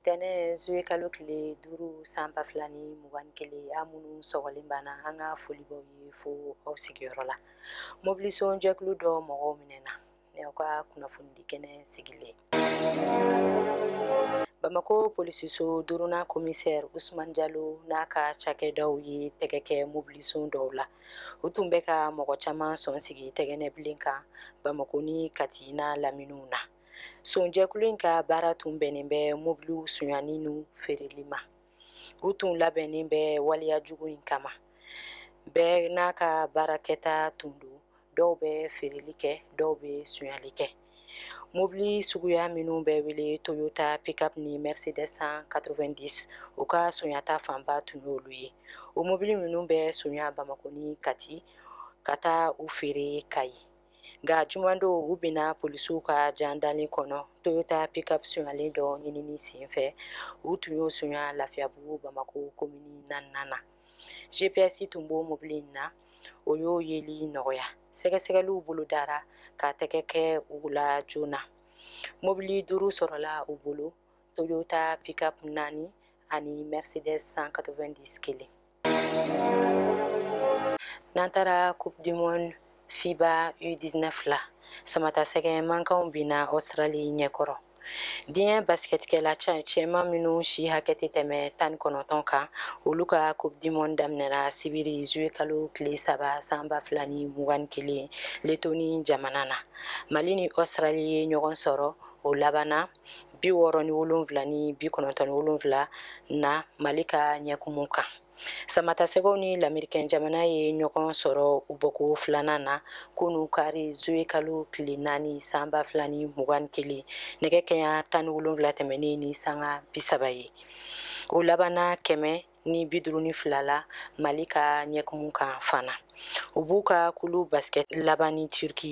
tɛnɛ zoye kalo tile duuru san ba fila ni mugan ni kelen a minnu sɔgɔlen b'an na an ka foli b'aw ye fo aw sigiyɔrɔ la mobilison jɛkulu dɔ mɔgɔw minɛna ni aw ka kunnafonidi kɛnɛ sigilen bamakɔ polisiso duurunan komisɛri usman jalo n'a ka cakɛdaw ye tɛgɛ kɛ mobilison dɔw la u tun bɛ ka mɔgɔ caman sɔn sigi tɛgɛnɛ bilen kan bamakɔ ni kati n'a laminiw na sonjɛkulu in ka baara tun bɛnnen bɛ mobiliw sonyani n'u feereli ma u tun labɛnnen bɛ waleya jugu in kama bɛɛ n'a ka baara kɛta tun don dɔw bɛ feereli kɛ dɔw bɛ sonyali kɛ mobili suguya minnu bɛ wele toyota pickup ni mercedes 190 u ka sonyata fanba tun y'olu ye o mobili minnu bɛ sonya bamakɔ ni kati ka taa u feere kayi nka juman don u binna polisiw ka jan dalen kɔnɔ toyota pickup sonyalen dɔ ɲinini senfɛ u tun y'o sonya lafiyabugu bamakɔ komini naaninan na gps tun b'o mobili in na o y'o yeli nɔgɔya sɛgɛsɛgɛliw bolodara ka tɛgɛ kɛ u la joona mobili duuru sɔrɔla u bolo toyota pickup naani ani mercedes 190 kelen n'an taara coupe du monde fiba u19 la samatasɛgɛ mankanw binna australie ɲɛkɔrɔ diɲɛ basikɛtikɛla cɛman minnu si hakɛ tɛ tɛmɛ tan ni kɔnɔntɔn kan olu ka coupe du monde daminɛra sibiri zuwe kalo tile saba san ba fila ni mugan ni kelen letoni jamana na mali ni australie ye ɲɔgɔn sɔrɔ o labanna bi wɔɔrɔ ni wolonwula ni bi kɔnɔntɔn ni wolonwula na mali ka ɲɛkumu kan samatasɛgɛw ni lamerikɛn jamana ye ɲɔgɔn sɔrɔ u bɔko filanan na kunu kari zoye kalo tile naani san ba fila ni mugan ni kelen nɛgɛ kɛɲa tan ni wolonwula tɛmɛnen ni sanga bisaba ye o labanna kɛmɛ ni bi duuru ni fila la mali ka ɲɛkumu kan fana u b'u ka kulu basikɛti laban ni turki